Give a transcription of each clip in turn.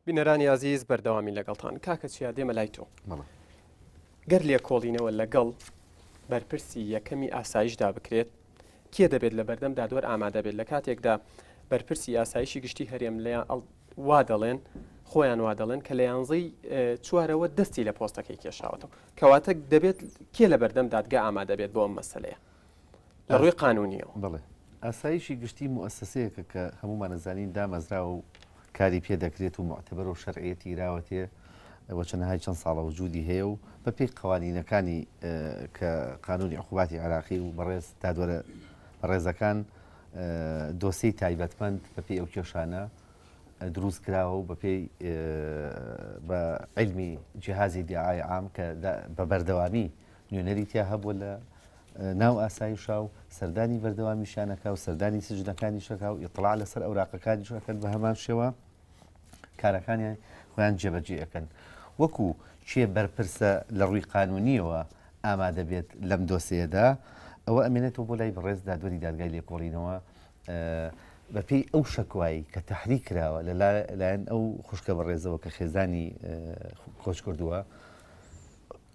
بینەرانی ئازیز بەردەوامی لەگەڵتان کاکە چیا دێمە لای تۆ گەر لێکۆڵینەوە لەگەڵ بەرپرسی یەکەمی ئاسایشدا بکرێت کێ دەبێت لە بەردەم دادوەر ئامادە بێت لە کاتێکدا بەرپرسی ئاسایشی گشتی هەرێم لە وا دەڵێن خۆیان وا دەڵێن کە لە یانزەی چوارەوە دەستی لە پۆستەکەی کێشاوەەوە کەواتە دەبێت کێ لە بەردەم دادگا ئامادە بێت بۆ ئەم مەسلەیە لە ڕووی قانونیەوە بڵێ ئاسایشی گشتی موسسەیەکە کە هەمومانەزانین دامەزراوە و کاری پێ دەکرێت و معتبەر و شەرعەتی راوەتێ وەچەنەهای چەند ساڵە وجودی هەیە و بەپی قوانینەکانی کە قانونی عقوباتی عراقی و بەڕێز دادوەرە بەڕێزەکان دۆسی تایبەتمەند بەپی ئەو کێشانە دروست کراوە و بەپی بە علمی جیهازی دیعاای عام کە بە بەردەوامی نوێنەری تیا هەبووە لە ناو ئاسایشا و سەردانی بەردەوامیشانەکە و سەردانی سجنەکانیشەکە و ئیطلاع لەسەر ئەوراقەکانیشەکەن بە هەمان شێوە کارەکانیان خۆیان جێبەجێ ئەەکەن وەکو چێ بەرپرسە لە ڕووی قانونیەوە ئامادە بێت لەم دۆسەیەدا ئەوە ئەمێنێتەوە بۆ لای بەڕێز دادوەری دادگای لێکۆڵینەوە بەپێی ئەو شکوایی کە تحری کراوە لە لایەن ئەو خوشکە بەڕێزەوە کە خێزانی کۆچ کردووە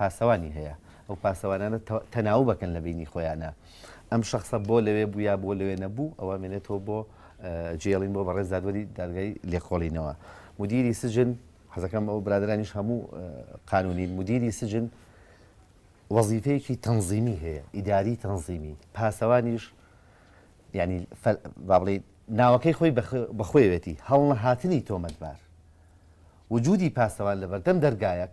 پاسەوانی هەیە ئەو پاسەوانانە تەناوبەکەن لە بینی خۆیانە ئەم شخصە بۆ لەوێ بوو یا بۆ لەوێ نەبوو ئەوە مێنێتەوە بۆ جێڵین بۆ بەڕێز دادوەری دادگای لێکۆڵینەوە مدیری سجن حەزەکەم ئەو برادرانیش هەموو قانونی مدیری سجن وەزیفەیەکی تەنزیمی هەیە ئیداری تەنزیمی پاسەوانیش ینی بابڵی ناوەکەی خۆی بەخۆیەتی هەڵنەهاتنی تۆمەتبار وجودی پاسەوان لە بەردەم دەرگایەک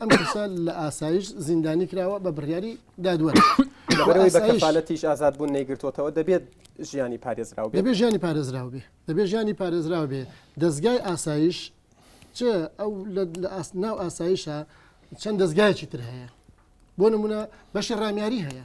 ئەم کەسە لە ئاسایش زیندانی کراوە بە بڕیاری دادوەر لەبەرەوەی بە کەفالەتیش ئازاد بوون نەیگرتوتەوە دەبێت ژیانی پارێزراو بێ دەبێ ژیانی پارێزراو بێ دەبێ ژیانی پارێزراو بێ دەستگای ئاسایش چ ئەو لە ئاست ناو ئاسایشە چەند دەستگایکی تر هەیە بۆ نمونە بەشی ڕامیاری هەیە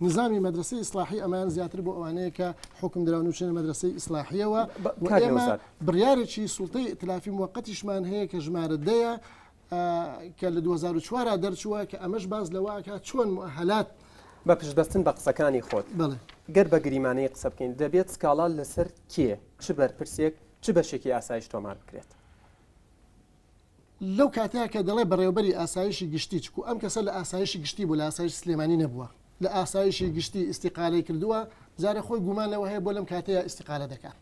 نیزامی مەدرەسەی ئیسلاحی ئەمەیان زیاتر بۆ ئەوانەیە کە حکم دراون و چێنە مەدرەسەی ئیسلاحیەوە ئێمە بڕارێکی سوڵتەی ئتلافی موقتیشمان هەیە کە ژمارە دەیە کە لە 2004 دەرچووە کە ئەمەش باز لەواکە چۆن هەلات بە پشتبەستن بە قسەکانی خۆت گەر بە گریمانەی قسە بکەین دەبێت سکاڵا لەسەر کێ چ بەرپرسێک چ بەشێکی ئاسایش تۆمار بکرێت. لەو کاتەیە کە دەڵێ بەڕێوەبەری ئاسایشی گشتی، چکو ئەم کەسە لە ئاسایشی گشتی بوو لە ئاسایشی سلێمانی نەبووە، لە ئاسایشی گشتی ئیستیقالەی کردووە، جارێ خۆی گومان لەوە هەیە بۆ لەم کاتەیە ئیستیقالە دەکا.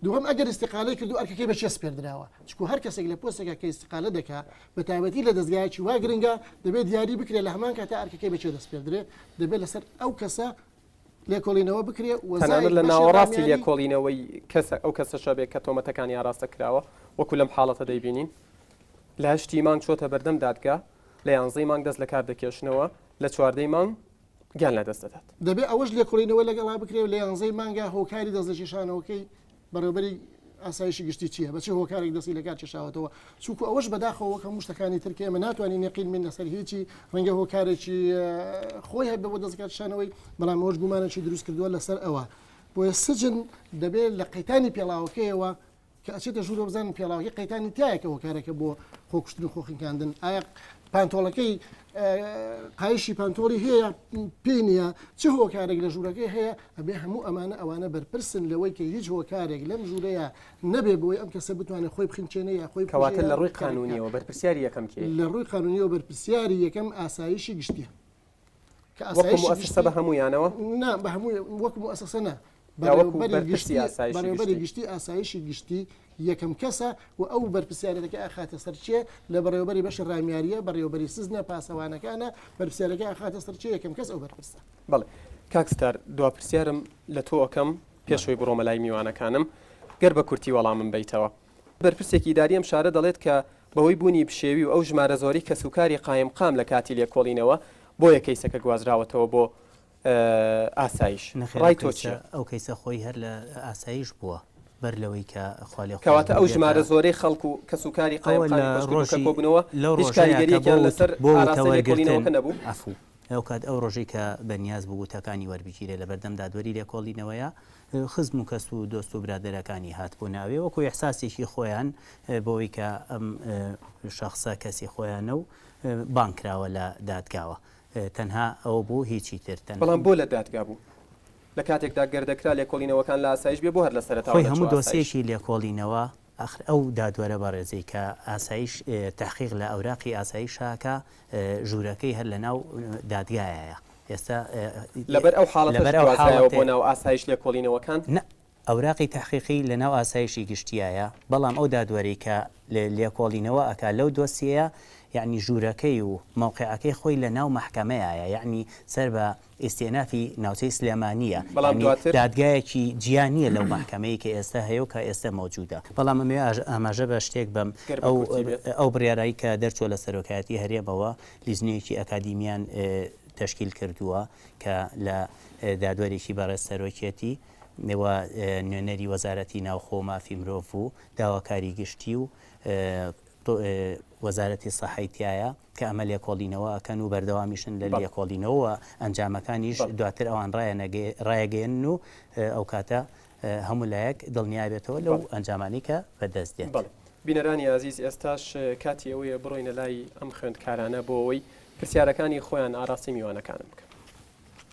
دووهەم ئەگەر ئیستیقالەی کردوو ئەرکەکەی بە کێ سپێردراوە؟ چکو هەر کەسێک لە پۆستێکا کە ئیستیقالە دەکا بە تایبەتی لە دەزگایەکی وا گرنگە دەبێ دیاری بکرێ لە هەمان کاتا ئەرکەکەی بە کێ دەسپێردرێ؟ دەبێ لەسەر ئەو کەسە لێکۆڵینەوە بکرێ تەنانەت لە ناوەڕاستی لێکۆڵینەوەی کەسە ئەو کەسە شەبێک کە تۆمەتەکانی ئاراستە کراوە وەکو لەم حاڵەتە دەیبینین لە هەشتی مانگ چۆتە بەردەم دادگا لە یانزەی مانگ دەست لە کار دەکێشنەوە لە چواردەی مانگ گیان لە دەست دەدات دەبێ ئەوەش لێکۆڵینەوە لەگەڵا بکرێت لە یانزەی مانگا هۆکاری دەستنیشانەوەکەی بەڕێوبەری ئاسایشی گشتی چیە؟ بە چ هۆکارێک دەستی لەکار کێشاوەتەوە؟ چونکو ئەوەش بەداخەوە وەک هەموو شتەکانی تر کە ئێمە ناتوانین یەقین بین لەسەر هیچی، ڕەنگە هۆکارێکی خۆی هەبێت بۆ دەست لەکارکێشانەوەی، بەڵام ئەوەش گومانێکی دروست کردووە لەسەر ئەوە. بۆیە سجن دەبێت لە قەیتانی پێڵاوەکەیەوە کە ئەچێتە ژوورەوە بزانن پێڵاوەکەی قەیتانی تایە کە هۆکارێکە بۆ خۆکوشتن و خۆخنکاندن، ئایا پانتۆڵەکەی قایشی پانتۆڵی هەیە پێی نییە چ هۆکارێک لە ژوورەکەی هەیە ئەبێ هەموو ئەمانە ئەوانە بەرپرسن لەوەی کە هیچ هۆکارێک لەم ژوورەیە نەبێ بۆی ئەم کەسە بتوانێت خۆی بخینچێنە یا خۆی کەواتە لە ڕووی قانونیەوە بەرپرسیاری یەکەم لە ڕووی قانونیەوە بەرپرسیاری یەکەم ئاسایشی گشتیە کە ئاسایش بە هەمویانەوە نا بە هەموو وەکم ئەسەسەە بەڕێوەبەری گشتی ئاسایشی گشتی یەکەم کەسە و ئەو بەرپسیارەتەکە ئاخاتە سەرچێ لە بەڕێوەبەری بەشی ڕامیاریە بەڕێوەبەری سزنە پاسەوانەکانە بەرپسیارەکە ئاخاتە سەرچێ یەکەم کەس ئەو بەرپرسە بڵێ کاکستار دو پرسیارم لە تۆ ئەەکەم پێشەوەی بڕۆمە لای میوانەکانم گەر بە کورتی وەڵامم بیتەوە بەرپرسێکی داریم شارە دەڵێت کە بەوەی بوونی پشێوی و ئەو ژمارە زۆری کەسوکاری قایم قام لە کاتی لێکۆڵینەوە بۆیە کەیسەکە گوازراوەتەوە بۆ ئاسایش ڕای تۆ چیە؟ نەخێر ئەو کەیسە خۆی هەر لە ئاسایش بووە بەر لەوەی کە خوا لێ خۆش بێت بێتە ئەوە لە ڕۆژ کەواتە ئەو ژمارە زۆرەی خەڵک و کەسوکاری قایمقامی کۆشکەکە کۆ بوونەوە هیچ کاریگەریەکیان لەسەر ئاراستەی لێکۆڵینەوەکە نەبوو؟ عەفوو هاوکات ئەو ڕۆژەی کە بەنیاز بوو وتەکانی وەربگیرێ لەبەردەم دادوەری لێکۆڵینەوەیا خزم و کەس و دۆست و برادەرەکانی هاتبوونە ئەوێ وەکو ئیحساسێکی خۆیان بۆوەی کە ئەم شەخسە کەسی خۆیانە و بانگ کراوە لە دادگاوە تەنها ئەوە بوو هیچی تر تەنها. بەڵام بۆ لە دادگا بوو؟ لە کاتێکدا گەر دەکرا لێکۆڵینەوەکان لە ئاسایش بێ بۆ هەر لە سەرەتاوە خۆی هەموو نەچوو ئاسایش؟ دۆسیەیەکی لێکۆڵینەوە ئاخر ئەو دادوەرە بەڕێزەی کە ئاسایش تەحقیق لە ئەوراقی ئاسایشا کا ژوورەکەی هەر لە ناو دادگایایە ئێستا لەبەر ئەو حاڵەتەش لەبەر ئەو گوازرایەوە بۆ حاڵەتێ. ناو ئاسایش لێکۆڵینەوەکان؟ نا ئەوراقی تەحقیقی لەناو ئاسایشی گشتیایە، بەڵام ئەو دادوەرەی کە لێکۆڵینەوە ئەکا لەو دۆسیەیە یەعنی ژوورەکەی و مەوقعەکەی خۆی لەناو مەحکەمەیایە یەعنی سەر بە ئیستئینافی ناوچەی سلێمانییە یەعنی دادگایەکی جیا نییە لەو مەحکەمەی کە ئێستا هەیە و کە ئێستا مەوجودە بەڵام ئەمەوێ ئاماژە بە شتێک بەم ئەو ئەو بڕیارەی کە دەرچووە لە سەرۆکایەتی هەرێمەوە لیژنەیەکی ئەکادیمیان تەشکیل کردووە کە لە دادوەرێکی بەڕێز سەرۆکیەتی و نوێنەری وەزارەتی ناوخۆ و مافی مرۆڤ و داواکاری گشتی و وەزارەتی سەحەی تایە کە ئەمە لێکۆڵینەوە ئەکەن و بەردەوامیشن لە لێکۆڵینەوە ئەنجامەکانیش دواتر ئەوان ڕایەگەێن و ئەو کاتە هەموو لایەک دڵنیابێتەوە لەو ئەنجامانی کە بەدەست دێت. بینەرانی ئازیز ئێستاش کاتی ئەوەیە بڕۆینە لای ئەم خوێندکارانە بۆ ئەوەی پرسیارەکانی خۆیان ئاراستەی میوانەکانم بکەن.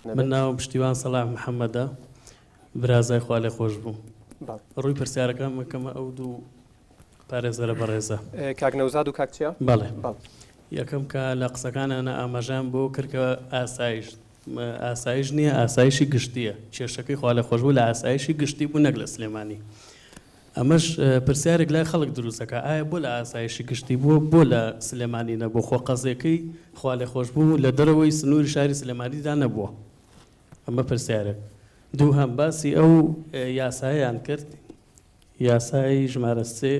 من ناوم پشتیوان سەلاح محەمەدە برازای خوالێخۆشبوو ڕووی پرسیارەکان مەکەمە ئەو دوو پارێزەرە بەڕێزە کاک نەوزاد و کاکچە بەڵێ یەکەم کە لە قسەکانانە ئاماژان بۆ کردکە ئاسایش ئاسایش نییە ئاسایشی گشتیە کێشەکەی خوا لە خۆشبوو لە ئاسایشی گشتی بوو نەک لە سلێمانی ئەمەش پرسیارێک لای خەڵک دروست دەکات ئایا بۆ لە ئاسایشی گشتی بووە بۆ لە سلێمانی نەبووە خۆ قەزیەکەی خوالێخۆشبوو لە دەرەوەی سنوری شاری سلێمانیدا نەبووە ئەمە پرسیارێک دووهەم باسی ئەو یاسایان کرد یاسای ژمارە سێ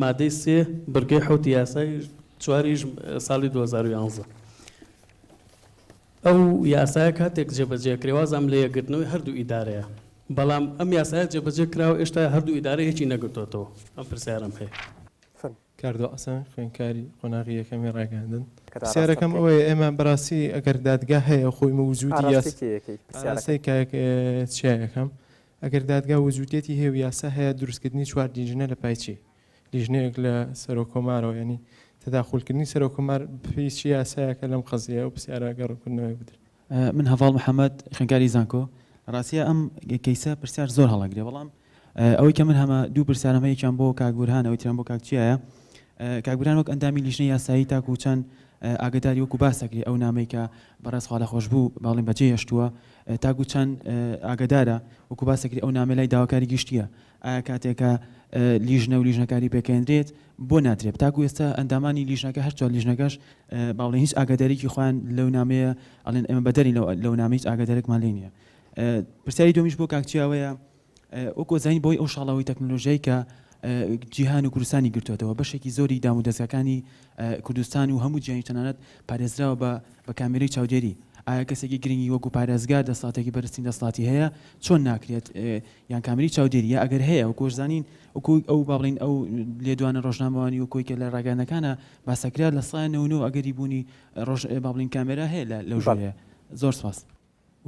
مادەی سێ بڕگەی حوتی یاسای چواریش ساڵی 2011 ئەو یاسایە کاتێک جێبەجێ کرێ وازام لە یەکگرتنەوەی هەردوو ئیدارەیە، بەڵام ئەم یاسایە جێبەجێ کراوە ئێشتا هەردوو ئیدارە یەکی نەگرتۆتەوە؟ ئەم پرسیارەم هەیە. فن. کاردۆ عەسان، خوێندکاری قۆناغی یەکەمی ڕاگەیاندن، پرسیارەکەم ئەوەیە ئێمە بەڕاستی ئەگەر دادگا هەیە خۆی موجودی یاس ئاراستەی کاک چیا یەکەم ئەگەر دادگا وجودیەتی هەیە و یاسا هەیە دروستکردنی چوار دیژنە لە پای چی؟ لیژنەیەک لە سەرۆک کۆمارەوە یانی تەداخول کردنی سەرۆک کۆمار بفی چ یاسایەکە لەم قەزییە ئەو پرسیارە گە ڕکردنەوەی بدرێ. من هەڤاڵ محەمەد خوێندکاری زانکۆ لە ڕاستیا ئەم کەیسە پرسیار زۆر هەڵەگرێ بەڵام ئەوەی کە من هەمە دوو پرسیارم هەیە یەکیان بۆ کاک بورهان ئەوەی تریان بۆ کاک چیایە کاک بورهان وەک ئەندامی لیژنەی یاسایی تاکو چەند ئاگداری وەکو باس دەکرێ ئەو نامەی کە بەڕێز خوا لە خۆش بوو باڵین بەجێ هێشتووە تاکو چەند ئاگدارە وەکو باس دەکرێ ئەو نامەی لای داواکاری گشتیە ئایا کاتێک کە لیژنە و لیژنەکاری پێکێندرێت بۆ ناترێت تاکو ئێستا ئەندامانی لیژنەکە هەر چوار لیژنەکەش باڵێ هیچ ئاگاداریکی خۆیان لەو نامەیە ئەڵێن ئێمە بەدەری لەو نامە هیچ ئاگادارێکمان لێ نییە پرسیاری دومیش بۆ کاکچیاوەیە وەکۆ زانین بۆی ئەو شاڵاوی تەکنۆلۆژیای کە جیهان و کوردستانی گرتوێتەوە بەشێکی زۆری دام و دەستەکانی کوردستان و هەموو جیانی تەنانەت پارێزراوە بە بە کامێری چاودێری ئایا کەسێکی گرنگی وەکو پارێزگار دەساتێکی بەرزترین دەسڵاتی هەیە چۆن ناکرێت یان کامێرەی چاودێری یا ئەگەر هەیە وەکو ئەشزانین وەکو ئەو با بڵێین ئەو لێدوانە ڕۆژنامەوانی و کۆیکە لە ڕاگەیانەکانا باسەکرا لە سەدا نەوەو نەوە ئەگەری بوونی ڕۆژ با بڵێین کامێرا هەیە لە لەو ژورەیە زۆر سپاس.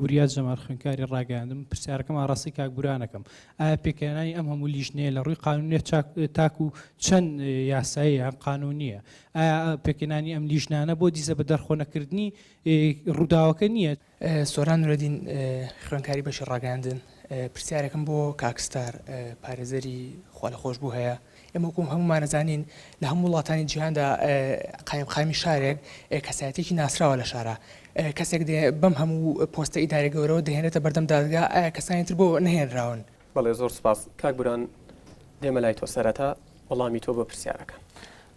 وریا جەمال خوێندکاری ڕاگەیاندن پرسیارەکەم ئاڕاستەی کاک بورانەکەم ئایا پێکهێنانی ئەم هەموو لیژنەیە لە ڕووی قانونێ چاک تاکو چەند یاسایە یان قانونیە ئایا پێکهێنانی ئەم لیژنانە بۆ دیزە بە دەرخۆنەکردنی ڕووداوەکە نییە؟ سۆران نورەدین خوێنکاری بەشی ڕاگەیاندن پرسیارێکم بۆ کاک ستار پارێزەری خوا لە خۆشببوو هەیە ئێمە وەکوم هەمومانەزانین لە هەموو وڵاتانی جیهاندا قایمقامی شارێک کەسایەتێکی ناسراوە لە شارە کەسێک دێ بەم هەموو پۆستە ئیدارە گەورەوە دەهێنێتە بەردەم دادگا ئایا کەسانی تر بۆ نەهێنراون بەڵێ زۆر سوپاس کاک بران دێمە لای تۆ سەرەتا وەڵامی تۆ بۆ پرسیارەکان.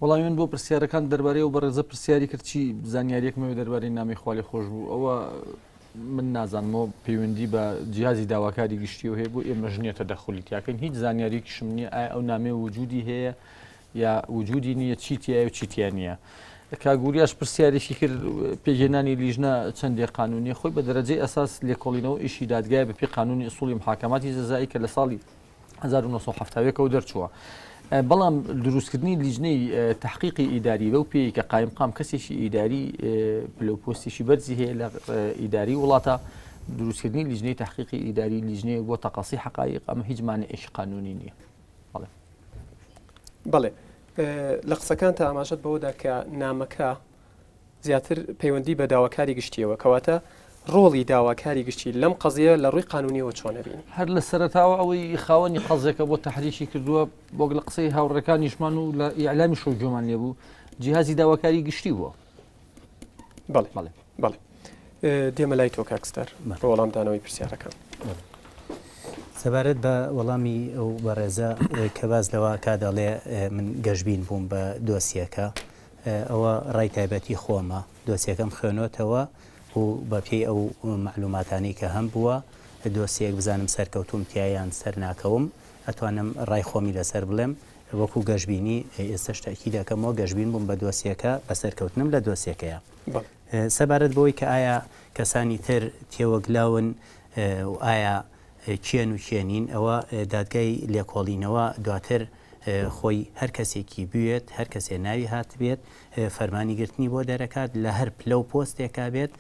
وەڵامی من بۆ پرسیارەکان دەربارەی ئەو بەڕێزە پرسیاری کرد چی زانیاریەک مەوێ دەربارەی نامی خوا لێ خۆش بوو ئەوە من نازانمەوە پەیوەندی بە جیازی داواکاری گشتی و هەیە بۆ ئێمە ژنیە تەدەخلی تیاکەین هیچ زانیاریکیشم نییە ئایا ئەو نامێ وجودی هەیە یا وجودی نییە چی تایە و چی تیا نییە کاگوریاش پرسیارێکی کرد پێگەێنانی لیژنە چەندێ قانونی خۆی بە دەرەجەی ئەساس لێکۆڵینەوە ئیشی دادگای بەپی قانونی ئسوڵی محاکەماتی جەزایی کە لە ساڵی 1970ەوە دەرچووە. بەڵام دروستکردنی لیژنەی تحقیقی ئیداری بەو پێی کە قایم قام کەسێکی ئیداری پلوپۆستێکی بەرزی هەیە لە ئیداری وڵاتە دروستکردنی لیژنەی تحقیقی ئیداری لیژنەیە بۆ تەقاسی حقایق ئەمە هیچمانە ئێش قانونی نییە. بەڵێ لە قسەکان تا ئاماژەت بەوەدا کە نامەکە زیاتر پەیوەندی بە داواکاری گشتیەوە کەواتە ڕۆڵی داواکاری گشتی لەم قەزیە لە ڕووی قانونیەوە چۆنەبین هەر لە سەرتاوە ئەوەی خاوەنی قەزیەکە بۆ تحریشی کردووە بۆک لە قسەی هاوڕەکانیشمان و لە ئیعلامی شەو جۆمان لێبوو جیهازی داواکاری گشتی بووە بەڵێ بەڵێ بەڵێ دێمە لای تۆ کاکستەر بە وەڵامدانەوەی پرسیارەکەم. سەبارەت بە وەڵامی ئەو بەڕێزە کە باز لەوە کا دەڵێ من گەشببین بووم بە دۆسیەکە ئەوە ڕای تایبەتی خۆمە دۆسیەکەم خوێنۆتەوە و بەپی ئەو معلوماتانی کە هەم بووە دۆسیەک بزانم سەرکەوتوم تیایان سەر ناکەوم ئەتوانم ڕای خۆمی لەسەر بڵێم وەکو گەشبینی ئێستەش تەئکید ئەکەمەوە گەشبین بووم بە دۆسیەکە بە سەرکەوتنم لە دۆسیەکەیا سەبارەت بەوەی کە ئایا کەسانی تر تێوەگلاون و ئایا کێن و کێ نین ئەوە دادگای لێکۆڵینەوە دواتر خۆی هەر کەسێکی بوێت هەر کەسێ ناوی هاتبێت فەرمانی گرتنی بۆ دەرەکات لە هەر پلە و پۆستێکا بێت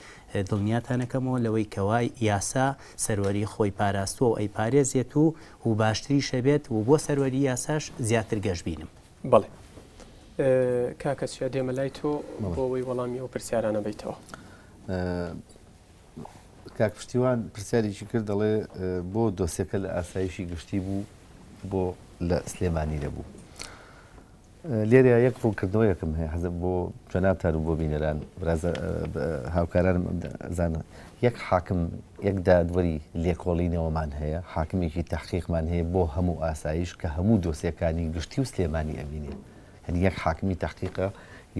دڵنیاتانەکەمەوە لەوەی کەوای یاسا سەروەری خۆی پاراستووە و ئەی پارێزێت و و باشتریش ئەبێت و بۆ سەروەری یاساش زیاتر گەش بینم. بەڵێ کاکە چیا دێمە لای تۆ بۆ ئەوەی وەڵامی ئەو پرسیارانە بەیتەوە. کاک پشتیوان پرسیارێکی کرد دەڵێ بۆ دۆسیەکە لە ئاسایشی گشتی بوو بۆ لە سلێمانی نەبوو. لێرە یەک ڕوونکردنەوەیەکم هەیە حەزم بۆ جەنابتان و بۆ بینەران هاوکارانم زانە یەک حاکم یەک دادوەری لێکۆڵینەوەمان هەیە حاکمێکی تحقیقمان هەیە بۆ هەموو ئاسایش کە هەموو دۆسیەکانی گشتی و سلێمانی ئەبینێ هەنی یەک حاکمی تحقیقە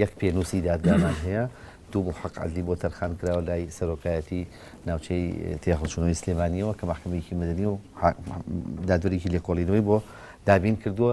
یەک پێنووسی دادگامان هەیە دوو محق عزلی بۆ تەرخان کراوە لای سەرۆکایەتی ناوچەی تێخڵچونەوەی سلێمانیەوە کە محکمەیەکی مدنی و دادوەرێکی لێکۆڵینەوەی بۆ دابین کردووە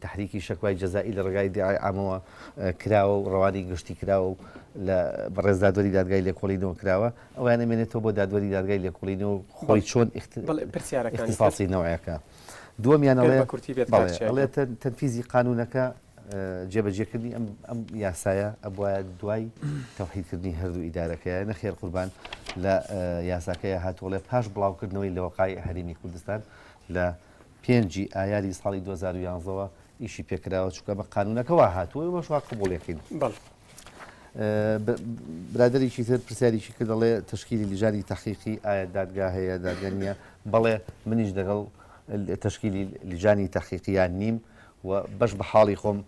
تەحریکی شەکوای جەزائی لە ڕێگای دیعای عامەوە کراوە و ڕەوانەی گشتی کراوە و لە بەڕێز دادوەری دادگای لێکۆڵینەوە کراوە، ئەوەیان ئەمێنێتەوە بۆ دادوەری دادگای لێکۆڵینەوە و خۆی چۆن ئیختیساسی نەوعەکە. دووەمیان ئەڵێ، بەڵێ، ئەڵێ تەنفیزی قانوونەکە جێبەجێکردنی ئەم یاسایە ئەبوایە دوای تەوحیدکردنی هەردوو ئیدارەکەیە، نەخێر قوربان، لە یاساکەیە هاتووە ئەڵێ پاش بڵاوکردنەوەی لە وەقاعی حەریمی کوردستان لە پێنج ی ئایاری ساڵی دوو هەزار و یازدە وە ئیشی پێکراوە چونکە بە قانونەکە وا هاتووە ئێمەش وا قبوڵێکین بەڵێ ب- برادەرێکی تر پرسیارێکی کرد دەڵێ تشکیلی لیژانی تەحقیقی ئایا دادگا هەیە دادگا نییە بەڵێ منیش دەگەڵ ال- تشکیلی لیژانی تەحقیقییان نیم و بەش بە حاڵی خۆم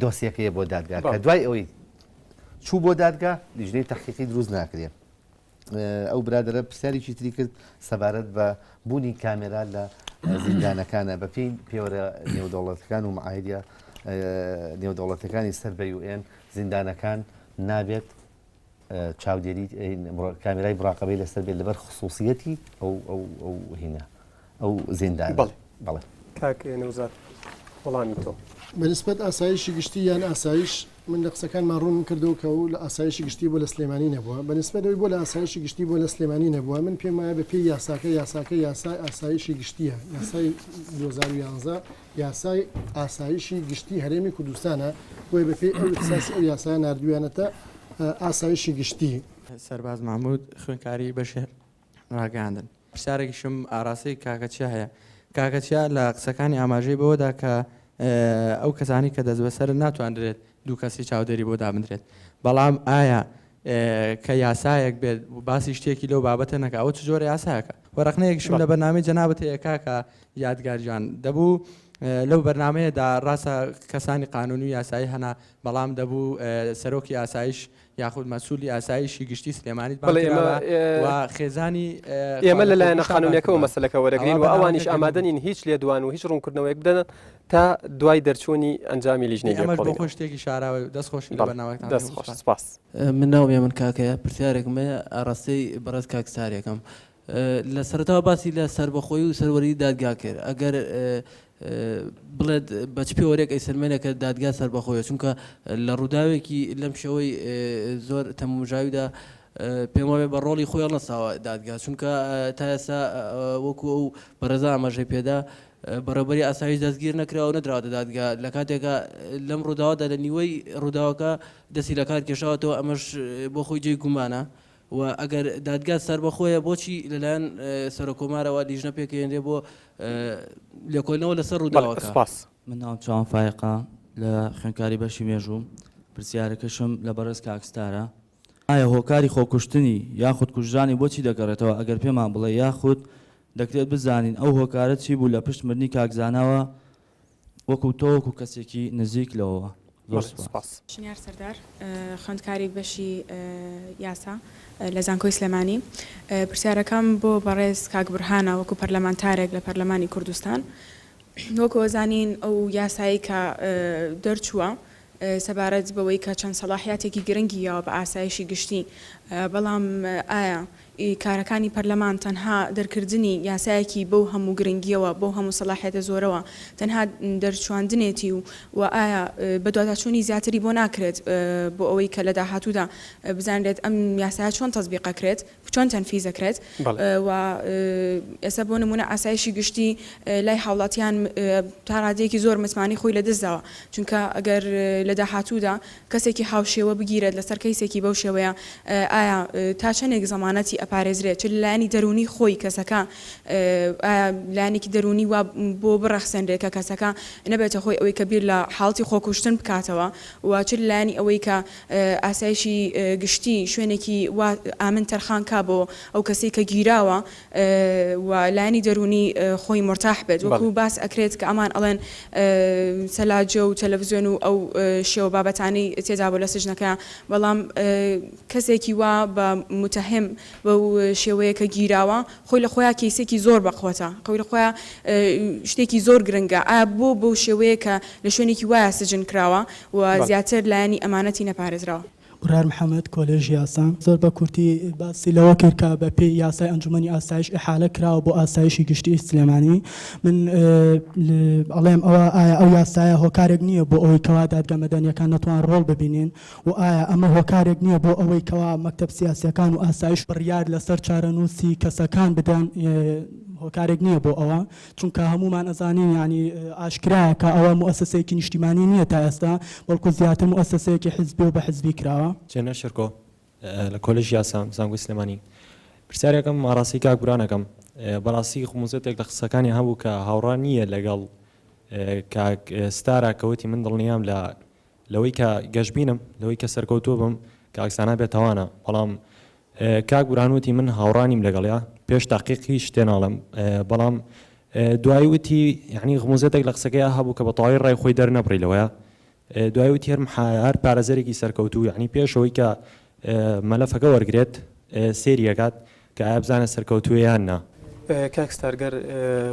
دۆسیەکەی بۆ دادگا کە دوای ئەوەی چوو بۆ دادگا لیژنەی تەحقیقی دروست ناکرێت ئەو برادرە پرسیارێکی تری کرد سەبارەت بە بوونی کامێرا لە زیندانەکانە بە پێی پێوەرە نێودەوڵەتەکان و معاهدە نێودەوڵەتەکانی سەر بە یوئێن زیندانەکان نابێت چاودێری کامیرای بڕاقەبەی لەسەر بێت لەبەر خصوصیەتی ئەو ئەو ئەو هینە ئەو زیندان بەڵێ کاک نەوزات وەڵامی تۆ بەنسبەت ئاسایشی گشتی یان ئاسایش من لە قسەکانمان ڕوون کردو کە و لە ئاسایشی گشتی بۆ لە سلێمانی نەبووە بەنسبەتەوەی بۆ لە ئاسایشی گشتی بۆ لە سلێمانی نەبووە من پێم وایە بە پێی یاساکە یاساکە یاسای ئاسایشی گشتیە یاسای 2011 یاسای ئاسایشی گشتی هەرێمی کوردستانە، بۆیە بە پێی ئەو اختصاصی ئەو یاسایە ناردویانەتە ئاسایشی گشتی. سەرباز مەحمود، خوێندکاری بەشی ڕاگەیاندن. پرسیارێکیشم ئاراستەی کاکە چیا هەیە. کاکە چیا لە قسەکانی ئاماژەی بەوەدا کە ئەو کەسانەی کە دەستبەسەرن ناتواندرێت دوو کەسی چاودێری بۆ دابندرێت، بەڵام ئایا کە یاسایەک بێت باسی شتێکی لەو بابەتە نەکا ئەوە چ جۆرە یاسایەکە و ڕەخنەیەکشم لە بەرنامەی جەنابت هەیە کاکە یادگار جان دەبوو لەو بەرنمەیەدا ڕاستە کەسانی قانون و یاسایی هەنا بەڵام دەبوو سەرۆکی ئاسایش یاخود مەسوولی ئاسایشی گشتی سلێمانیت بڵێ بانکرا ئێمە، بە ئێ، و خێزانی ئێمە لەلایەنە خانونیەکەوە مەسەلەکە وەرەگرین و ئەوانیش ئامادەنین هیچ لێدوان و هیچ ڕوونکردنەوەیەک بدەن تا دوای دەرچوونی ئەنجامی لیژنەی لێکۆڵینەوە. ئەمەش بۆ خۆی شتێکی شاراوەی و دەست خۆشی لە بەرنامەکەتان دەکەم. دەست خۆش، سپاس. من ناوم یەمەن کاکەیە پرسیارێکم هەیە ئاڕاستەی بەڕێز کاک ساریەکەم لە سەرەتاوە باسی لە سەربەخۆی و سەروەری دادگا کرد ئەگەر بڵێت بە چ پێوەرێک ئەیسەلمێنێ کە دادگا سەربەخۆیە چونکە لە ڕووداوێکی لەم شێوەی زۆر تەمومژاویدا پێم وابێ بە ڕۆڵی خۆی هەڵنەساوە دادگا چونکە تا ئێستا وەکو ئەو بەڕێزا ئاماژەی پێدا بەڕێوەبەری ئاسایش دەستگیر نەکرا و نەدراوەتە دادگا، لە کاتێکا لەم ڕووداوەدا لە نیوەی ڕووداوەکە دەستی لە کار کێشاوەتەوە، ئەمەش بۆ خۆی جێی گومانە و ئەگەر دادگا سەربەخۆیە بۆچی لەلایەن سەرۆککۆمارەوە لیژنە پێکهێنرێ بۆ لێکۆلنەوە لەسەر ڕووداوەکە؟ من ناوم چاوان فایەقە، لە خوێندکاری بەشی مێژووم، پرسیارەکەشم لە بەڕێز کاک ستارە، ئایا هۆکاری خۆکوشتنی یاخود کوژرانی بۆچی دەگەڕێتەوە، ئەگەر پێمان بڵێ، یاخود دەکرێت بزانین ئەو هۆکارە چی بوو لە پشت مردنی کاک زاناوە وەکو تۆ وەکو کەسێکی نزیک لەوەوە؟ زۆر سوپاس. شنیار سەردار، خوێندکاری بەشی یاسا لە زانکۆی سلێمانی. پرسیارەکەم بۆ بەڕێز کاک بورهانە وەکو پەرلەمانتارێک لە پەرلەمانی کوردستان. وەکو ئەزانین ئەو یاسایەی کە دەرچووە سەبارەت بەوەی کە چەند سەڵاحیاتێکی گرنگی یاوە بە ئاسایشی گشتی، بەڵام ئایا ئی کارەکانی پەرلەمان تەنها دەرکردنی یاسایەکی بەو هەموو گرنگیەوە، بەو هەموو سەڵاحیەتە زۆرەوە تەنها دەرچواندنێتی و وە ئایا بەدواداچوونی زیاتری بۆ ناکرێت بۆ ئەوەی کە لە داهاتوودا بزانرێت ئەم یاسایە چۆن تەزبیق ئەکرێت؟ چۆن تەنفیز دەکرێت و ئێستا بۆ نمونە ئاسایشی گشتی لای هاوڵاتیان تا ڕادەیەکی زۆر متمانی خۆی لە دەستداوە چونکە ئەگەر لە داهاتوودا کەسێکی هاوشێوە بگیرێت لەسەر کەیسێکی بەو شێوەیە ئایا تا چەندێک زەمانەتی ئەپارێزرێت چ لایانی دەرونی خۆی کەسەکە لایەنێکی دەرونی وا بۆ بڕەخسێنرێت کە کەسەکە نەبێتە هۆی ئەوەی کە بیر لە حاڵتی خۆکوشتن بکاتەوە و چ لایانی ئەوەی کە ئاسایشی گشتی شوێنێکی وا ئامن تەرخان کا بۆ ئەو کەسەی کە گیراوە و لایەنی دەروونی خۆی مورتاح بێت وەکو باس ئەکرێت کە ئەمان ئەڵێن سەلاجە و تەلەفزیۆن و ئەو شێوە بابەتانەی تێدا بوو لە سجنەکە بەڵام کەسێکی وا بە موتەهیم بەو شێوەیە کە گیراوە خۆی لە خۆیا کەیسێکی زۆر بە قوەتە خۆی لە خۆیا شتێکی زۆر گرنگە ئایا بۆ بەو شێوەیە کە لە شوێنێکی وایە سجن کراوە و زیاتر لایەنی ئەمانەتی نەپارێزراو. برار محەمەد، کۆلێژی یاسا، زۆر بە کورتی باسی لەوە کرد کە بە پێی یاسای ئەنجومەنی ئاسایش ئیحالە کراوە بۆ ئاسایشی گشتیی سلێمانی. من ئەڵێم ئەوە ئایا ئەو یاسایە هۆکارێک نییە بۆ ئەوەی کەوا دادگە مەدەنییەکان نەتوان ڕۆڵ ببینین و ئایا ئەمە هۆکارێک نییە بۆ ئەوەی کەوا مەکتەب سیاسییەکان و ئاسایش بڕیار لەسەر چارەنووسی کەسەکان بدەن هۆکارێک نییە بۆ ئەوە چونکە هەموومان ئەزانین یانی ئاشکرایە کە ئەوە موئەسەسەیەکی نیشتیمانی نییە تا ئێستا، بەڵکو زیاتر موئەسەسەیەکی حزبی و بە حزبی کراوە. جەنە شێرکۆ، لە کۆلێژی یاسا، زانکۆی سلێمانی. پرسیارێکم ئاڕاستەی کاک بوران ئەکەم، بەڕاستی خموزەتێک لە قسەکانیا هەبوو کە هاوڕا نییە لەگەڵ کاک ستارا کە وتی من دڵنیام لە لەوەی کە گەشبینم لەوەی کە سەرکەوتوو بم کە ئەکسانا بێ تاوانە بەڵام کاک بورهان وتی من هاوڕا نیم لەگەڵیا پێش تاقیق هیچ تێ ناڵم بەڵام دوایی وتی یعنی غموزەتێک لە قسەکەی هەبوو کە بە تەواوی ڕای خۆی دەرنەبڕی لەوەیە دوای وتی هەر هەر پارێزەرێکی سەرکەوتوو یعنی پێشەوەی کە مەلەفەکە وەرگرێت سێری ئەکات کە ئایە بزانێت سەرکەوتووە یان نا. کاک ستار گەر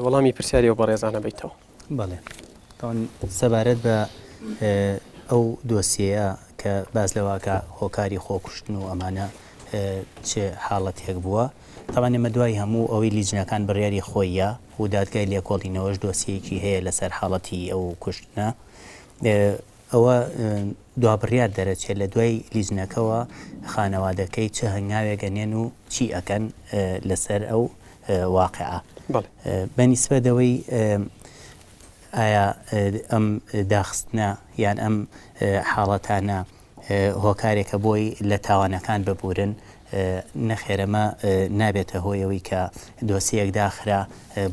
وەڵامی پرسیاری ئەو بەڕێزانە بەیتەوە. بەڵێ تاوان سەبارەت بە ئەو دۆسیەیە کە باس لەوە ئەکا هۆکاری خۆکوشتن و ئەمانە چ حاڵەتێک بووە تاوان ئێمە دوای هەموو ئەوەی لیجنەکان بڕیاری خۆییە و دادگای لێکۆڵینەوەش دۆسیەیەکی هەیە لەسەر حاڵەتی ئەو کوشتنە ئەوە دوا بڕیار دەرەچێت لە دوای لیجنەکەوە خانەوادەکەی چ هەنگاوێک ئەنێن و چی ئەکەن لەسەر ئەو واقعە بە نیسبەت ئەوەی ئایا ئەم داخستنە یان ئەم حاڵەتانە هۆکارێکە بۆی لە تاوانەکان ببورن نەخێر ئەمە نابێتە هۆی ئەوەی کە دۆسیەیەک داخرا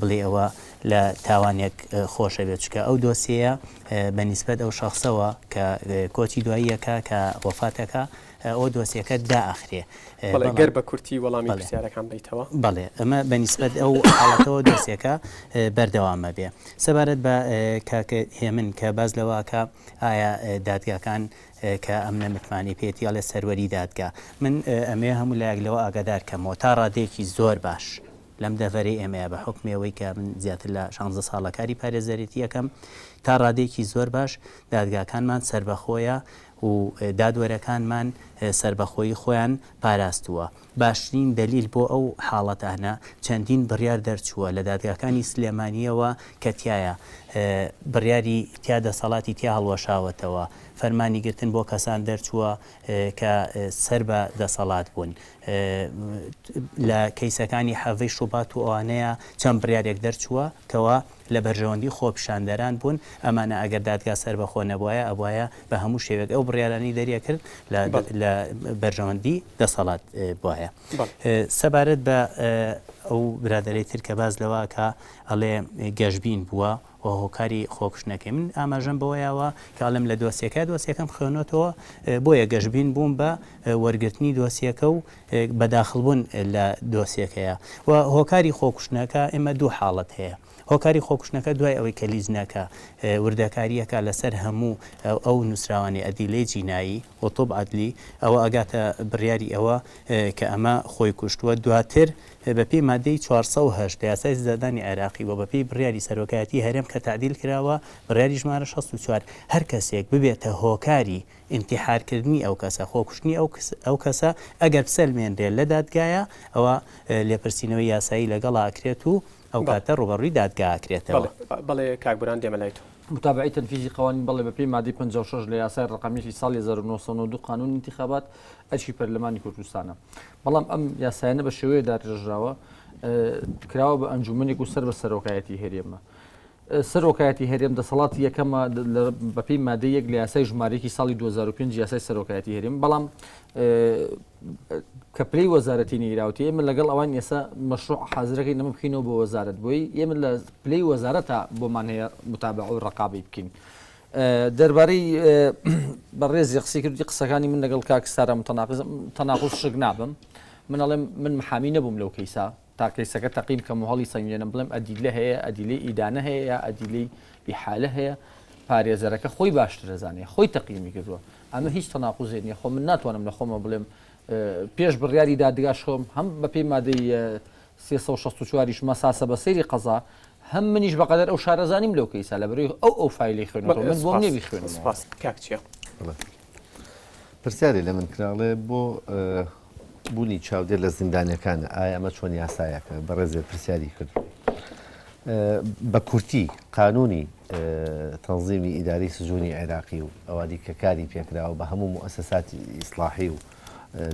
بڵێی ئەوە لە تاوانێک خۆش ئەبێت چونکە ئەو دۆسیەیە بە نیسبەت ئەو شەخسەوە کە کۆچی دواییەکە کە وەفات ئەکا ئەو دۆسیەکە دائەخرێ بەڵێ گەر بە کورتی وەڵامی پرسیارەکان بەیتەوە بەڵێ ئەمە بە نیسبەت ئەو حاڵەتەوە دۆسیەکە بەردەوام ئەبێ سەبارەت بە کاک هێمن کە باس لەوە ئەکا ئایا دادگاکان کە ئەم نەمتمانەی پێێتی ئەڵێ سەروەری دادگا. من ئەمەوێ هەموو لایەک لەوە ئاگادار کەمەوە تا ڕادەیەکی زۆر باش لەم دەڤەرەی ئێمەیە بە حوکمی ئەوەی کە من زیاتر لە شانزە ساڵە کاری پارێزەرێتی ئەکەم تا ڕادەیەکی زۆر باش دادگاکانمان سەربەخۆیە و دادوەرەکانمان سەربەخۆیی خۆیان پاراستووە. باشترین دەلیل بۆ ئەو حاڵەتانە چەندین بڕیار دەرچووە لە دادگاکانی سلێمانییەوە کە تیایا بڕیاری تیا دەسەڵاتی تیا هەڵوەشاوەتەوە، فەرمانی گرتن بۆ کەسان دەرچووە کە سەر بە دەسەڵات بوون لە کەیسەکانی حەڤەی شوبات و ئەوانەیا چەند بڕیارێک دەرچووە کەوا. لە بەرژەوەندی خۆپیشاندەران بوون، ئەمانە ئەگەر دادگا سەربەخۆ نەبوایە ئەبوایە بە هەموو شێوەیەک ئەو بڕیارانەی دەریەکرد لە بەرژەوەندی دەسەڵات بوایە. سەبارەت بە ئەو برادەرەی تر کە باس لەوە ئەکا ئەڵێ گەشبین بووە و هۆکاری خۆکوشتنەکەی من ئاماژەم بەوەیەوە کە ئەڵێم لە دۆسیەکە دۆسیەکەم خوێنۆتەوە بۆیە گەشبین بووم بە وەرگرتنی دۆسیەکە و بەداخڵبوون لە دۆسیەکەیە و هۆکاری خۆکوشتنەکە ئێمە دوو حاڵەت هەیە هۆکاری خۆکوشتنەکە دوای ئەوەی کە لیجنەکە وردەکاریەکا لەسەر هەموو ئەو نووسراوانی ئەدیلەی جینایی و طب عدلی ئەوە ئەگاتە بڕیاری ئەوە کە ئەمە خۆی کوشتووە دواتر بەپێی مادەی چوار سەد و هەشت لە یاسای سزادانی عێراقی و بەپێی بڕیاری سەرۆکایەتی هەرێم کە تەعدیل کراوە بڕیاری ژمارە شەست و چوار هەر کەسێک ببێتە هۆکاری ئینتیحار کردنی ئەو کەسە، خۆکوشتنی ئەو کەسە، ئەگەر بسەلمێنرێت لە دادگایا ئەوا لێپرسینەوەی یاسایی لەگەڵا ئەکرێت و ئەو کاتە ڕووبەڕووی دادگا ئەکرێتەوە. بەڵێ کاک بوران دێمە لای تۆ. متابعەی تەنفیزی قەوانین، بەڵێ بەپێی مادەی پەنجا و شەش لە یاسای ڕەقەمیی ساڵی هەزار و نۆ سەد و نەوەد و دوو قانون انتخابات ئەرکی پەرلەمانی کوردستانە. بەڵام ئەم یاسایانە بە شێوەیە داڕێژراوە کراوە بە ئەنجوومەنێک و سەر بە سەرۆکایەتیی هەرێمە. سەرۆکایەتی هەرێم دەسەڵاتی یەکەمە بەپێی مادەی یەک لە یاسای ژمارەیەکی ساڵی 2005 یاسای سەرۆکایەتی هەرێم بەڵام کە پلی وەزارەتی نەیراوتی ئێمە لەگەڵ ئەوان ئێستا مەشروع حازرەکەی نەمە بکەینەوە بۆ وەزارت بۆی ئێمە لە پلی وەزارەتە بۆمان هەیە متابع و ڕقابی بکەین. دەربارەی بەڕێزی قسەی کردی قسەکانی من لەگەڵ کاک سارا تەناقز تەناقز شک نابم من ئەڵێم من محامی نەبووم لەو کەیسا تا کەیسەکە تەقی بکەم و هەڵی سەنگێنم بڵێم ئەدیلە هەیە، ئەدیلەی ئیدانە هەیە یا ئەدیلەی ئیحالە هەیە، پارێزەرەکە خۆی باشتر دەزانێ، خۆی تەقیمی کردووە. ئەمە هیچ تەناقوزێ نییە، خۆ من ناتوانم لە خۆمەوە بڵێم پێش بڕیاری دادگاش خۆم هەم بەپێی مادەی سێ سەد و شەست و چوار یش مەساسە بە سەیری قەزا، هەم منیش بەقەدەر ئەو شارەزا نیم لەو کەیسە، لەبەرئەوەی ئەو ئەو فایلەی خوێنێتەوە، من بۆم نییە بیخوێنمەوە. سپاس. کاک چیا. بەڵێ. پرسیارێ لە من کرا، ئەڵێ بۆ بوونی چاودێر لە زیندانیەکانە ئایا ئەمە چۆن یاسایەکە بەڕێزێ پرسیاری کرد بە کورتی قانونی تەنزیمی ئیداری سزۆنی عێراقی و ئەوادی کە کاری پێکراوە بە هەموو مؤسساتی ئیسلاحی و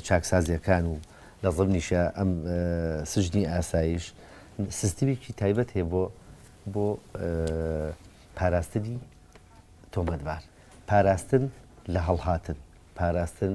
چاکسازیەکان و لە ضمنیشە ئەم سژنی ئاسایش سیستمێکی تایبەت هەیە بۆ بۆ پاراستنی تۆمەتبار پاراستن لە هەڵهاتن پاراستن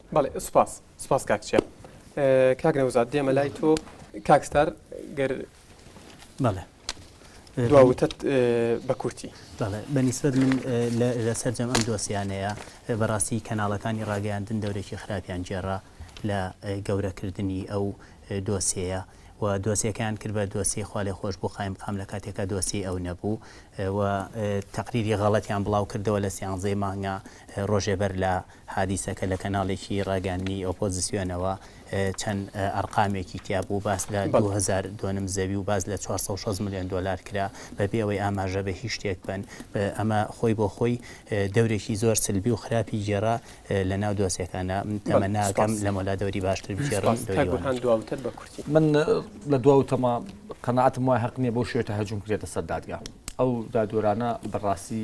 بەڵێ سوپاس سوپاس کاک چیا کاک نەوزاد دێمە لای تۆ کاک ستار گەر بەڵێ دواوتت بە کورتی بەڵێ بەنیسبەت من لە سەرجەم ئەم دۆسیانەیە بەڕاستی کەناڵەکانی ڕاگەیاندن دەورێکی خراپیان گێڕا لە گەورەکردنی ئەو دۆسیەیە و دۆسیەکەیان کرد بە دۆسی خالی خۆش بۆ قایم قام لە کاتێکا دۆسی ئەو نەبوو و تقریری غەڵەتیان بڵاو کردەوە لە سیانزەی مانگە ڕۆژێبەر لە حادیسەکە لە کەناڵێکی ڕاگەیاندنی ئۆپۆزسیۆنەوە چەند ئەرقامێکی تیا بوو، باس لە دوو هەزار دۆنم زەوی و باس لە چوار سەد و شەست ملیۆن دۆلار کرا، بەبێ ئەوەی ئاماژە بە هیچ شتێک بەن. ئەمە خۆی بۆ خۆی دەورێکی زۆر سلبی و خراپی گێڕا لە ناو دۆسیەکانا. تەمە ناکەم، لەم وەلا دەوری باشتر بگێڕن. دەوری وا نەبوو. من لە دوا وتەمە، قەناعەتم وایە هەق نییە بەو شێوەیە تەهجوم کرێتە سەر دادگا. ئەو دادوەرانە بە ڕاستی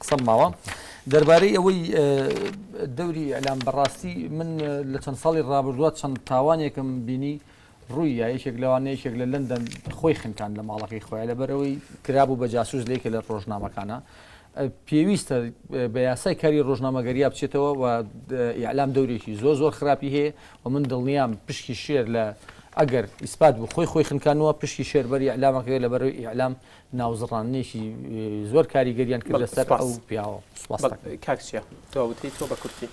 قسەم ماوە دەربارەی ئەوەی دەوری ئەلام بەڕاستی من لە چەند ساڵی ڕابردووە چەند تاوانێکم بینی ڕووی یەکێک لەوان یەکێک لە لەندەن خۆی خنکان لە ماڵەکەی خۆیان لەبەرەوەی کرابوو بە جاسوس لەیکە لە ڕۆژنامەکانە پێویستە بە یاسای کاری ڕۆژنامەگەریا بچێتەوە و ئیعلام دەورێکی زۆر زۆر خراپی هەیە و من دڵنیام پشکی شێر لە ئەگەر ئیسپات بوو خۆی خۆی خنکانەوە پشکی شێربەری ئەلامەکەی لەبەرەوەی ئیعلام ناوزڕاندنێکی زۆر کاریگەریان کرد لەسەر ئەو پیاوە سوپاس کاک چیا تۆ وتەی تۆ بە کورتی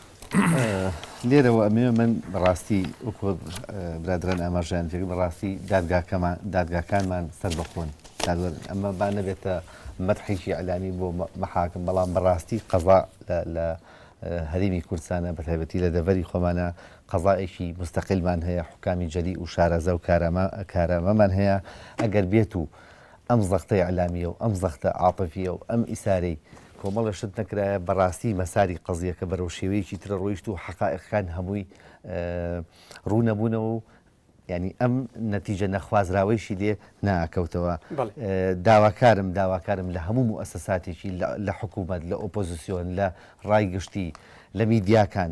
لێرەوە ئەمێ من بەڕاستی وەکو برادران ئاماژیان جێ بەڕاستی دادگاکەمان دادگاکانمان سەر بەخۆن ئەمە با نەبێتە مەرحێکی ئەلامی بۆ مەحاکم بەڵام بەڕاستی قەزا لە هەرمی کوردستانە بە تایبەتی لە دەڤەری خۆمانە قەزایەکی مستەقلمان هەیە حکامی جەلی و شارەزە و کارەمە کارەمەمان هەیە ئەگەر بێت و ئەم زەختە ئیعلامیە و ئەم زەختە عاتفیە و ئەم ئیسارەی کۆمەڵێ شت نەکرایە بەڕاستی مەساری قەزیەکە بەرەو شێوەیەکی ترە ڕۆیشت و حەقائیقەکان هەمووی ڕوو نەبوونەوە و یانی ئەم نەتیجە نەخوازراوەیشی لێ ناکەوتەوە داواکارم داواکارم لە هەموو موئەسەساتێکی لە حکوومەت لە ئۆپۆزیسیۆن لە ڕای گشتی لە میدیاکان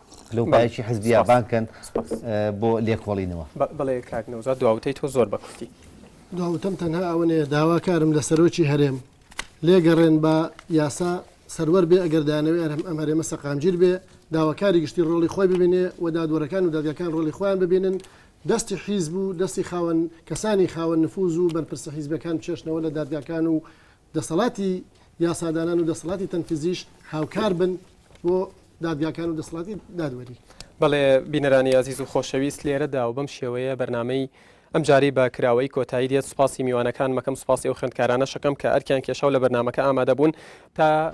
لەو پایەکی حزبیا بانکەن بۆ لێکۆڵینەوە بڵێ کاک نەوزە دواوتەی تۆ زۆر بەکوتی دواوتەم تەنها ئەوەنەیە داواکارم لە سەرۆکی هەرێم لێگەڕێن بە یاسا سەروەر بێ ئەگەر دانەوێ ئەرم ئەم هەرێمە سەقامگیر بێ داواکاری گشتی ڕۆڵی خۆی ببینێ و دادوەرەکان و دادگەکان ڕۆلی خۆیان ببینن دەستی حیز بوو دەستی خاوەن کەسانی خاوەن نفوز و بەرپرسە حیزبەکان چێشنەوە لە دادگاکان و دەسەڵاتی یاسادانان و دەسەڵاتی تەنفیزیش هاوکار بن بۆ دادگاکان و دەسەڵاتی دادوەری. بەڵێ بینەرانی ئازیز و خۆشەویست لێرەدا و بەم شێوەیە بەرنامەی ئەمجارەی بە کراوەیی کۆتایی دێت سوپاسی میوانەکانمەکەم سوپاسی ئەو خوێندکارانەشەکەم کە ئەرکیان کێشا و لە بەرنامەکە ئامادەبوون تا